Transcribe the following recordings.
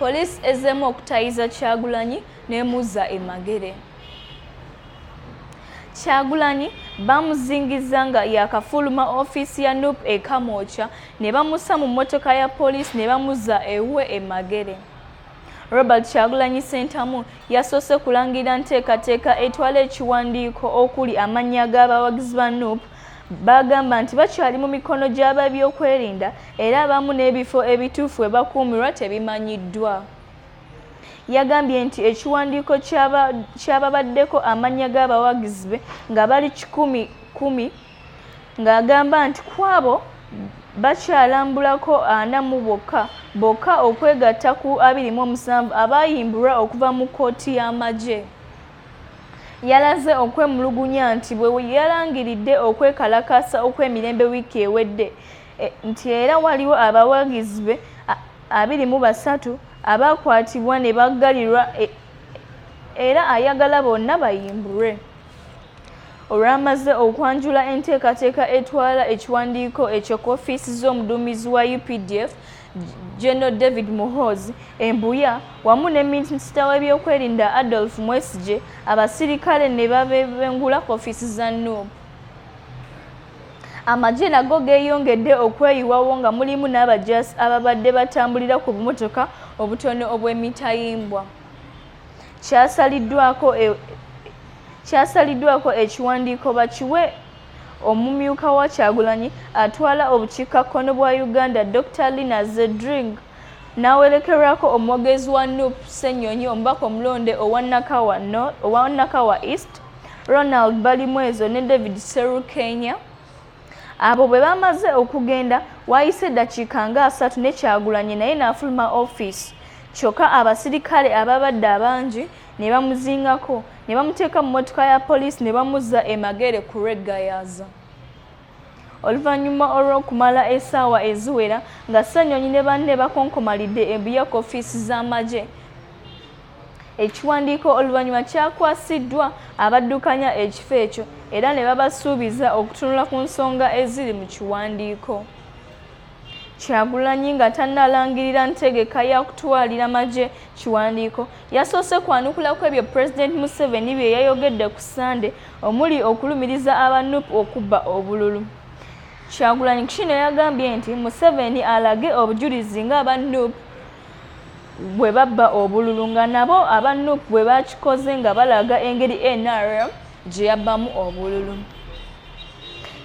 Poliisi ezzeemu okutayiza Kyagulanyi n'emuzza e Magere. Kyagulanyi bamuzingiza nga yakafuluma ofiisi ya nup e Kamwokya ne bamussa mu mmotoka ya poliisi ne bamuzza ewuwe e Magere. Robert Kyagulanyi Ssentamu yasoose kulangirira nteekateeka etwala ekiwandiiko okuli amannya g'abawagizi ba nup Bagamba nti bakyali mu mikono gy'ababyokwerinda era abamu n'ebifo ebituufu we bakuumirwa tebimanyiddwa. Yagambye nti ekiwandiiko kyababaddeko amannya g'abawagizi be nga bali kikumi kumi ng'agamba nti kwabo bakyalambulako ana mu bokka bokka okwegatta ku abiri mu omusanvu abaayimbulwa okuva mu kkooti y'amagye. yalaze okwemulugunya nti bwe yalangiridde okwekalakaasa okw'emirembe wiiki ewedde e, nti era waliwo abawagizi be abiri mu basatu abaakwatibwa ne baggalirwa e, era ayagala bonna bayimbulwe olwamaze okwanjula enteekateeka etwala ekiwandiiko ekyo ku ofiisi z'omuduumizi wa updf General David Muhoozi embuya wamu ne minisita w'ebyokwerinda Adolf Mwesigye abasirikale ne babebengula ku ofiisi za NUB. Amagye nago geeyongedde okweyiwawo nga mulimu n'abajaasi ababadde batambulira ku bumotoka obutono obw'emitayimbwa. Kyasaliddwako e, ekiwandiiko bakiwe Omumyuka wa Kyagulanyi atwala obukiikakkono bwa Uganda Dr Lina Zedring n'awerekerwako omwogezi wa nup Ssenyonyi omubaka omulonde owa Nakawa East Ronald Balimwezo ne David Serukenya abo bwe bamaze okugenda waayise eddakiika nga asatu ne Kyagulanyi naye n'afuluma ofiisi kyokka abasirikale ababadde abangi ne bamuzingako ne bamuteeka mu mmotoka ya poliisi ne bamuzza emagere ku lweggayaaza oluvannyuma olw'okumala essaawa eziwera nga ssenyonyi ne banne bakonkomalidde embuye ku ofiisi z'amagye ekiwandiiko oluvannyuma kyakwasiddwa abaddukanya ekifo ekyo era ne babasuubiza okutunula ku nsonga eziri mu kiwandiiko Kyagulanyi nga tannalangirira ntegeka ya kutwalira magye kiwandiiko yasoose kwanukula ku ebyo Pulezidenti Museveni bye yayogedde ku Ssande omuli okulumiriza aba nup okubba obululu. Kyagulanyi kino yagambye nti Museveni alage obujulizi ng'aba nup bwe babba obululu nga nabo aba nup bwe bakikoze nga balaga engeri nrm gye yabbamu obululu.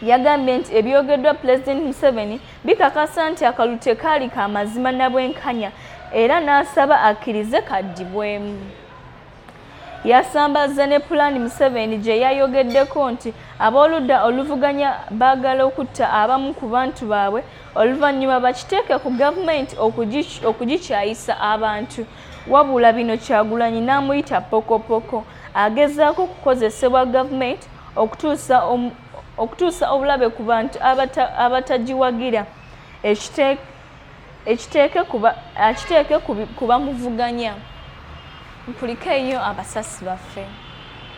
yagambye nti ebyogeddwa pulezidenti museveni bikakasa nti akalu tekaali ka mazima na bwenkanya era n'asaba akkirize kaddibwemu yasambazze ne pulaani museveni gye yayogeddeko nti ab'oludda oluvuganya baagala okutta abamu ku bantu baabwe oluvannyuma bakiteeke ku gavumenti okugikyayisa abantu wabula bino kyagulanyi n'amuyita pokopoko agezaako okukozesebwa gavumenti okutuusa um, okutuusa obulabe ku bantu abatagiwagira ekiteeke ku bamuvuganya mpulikeeyo abasasi baffe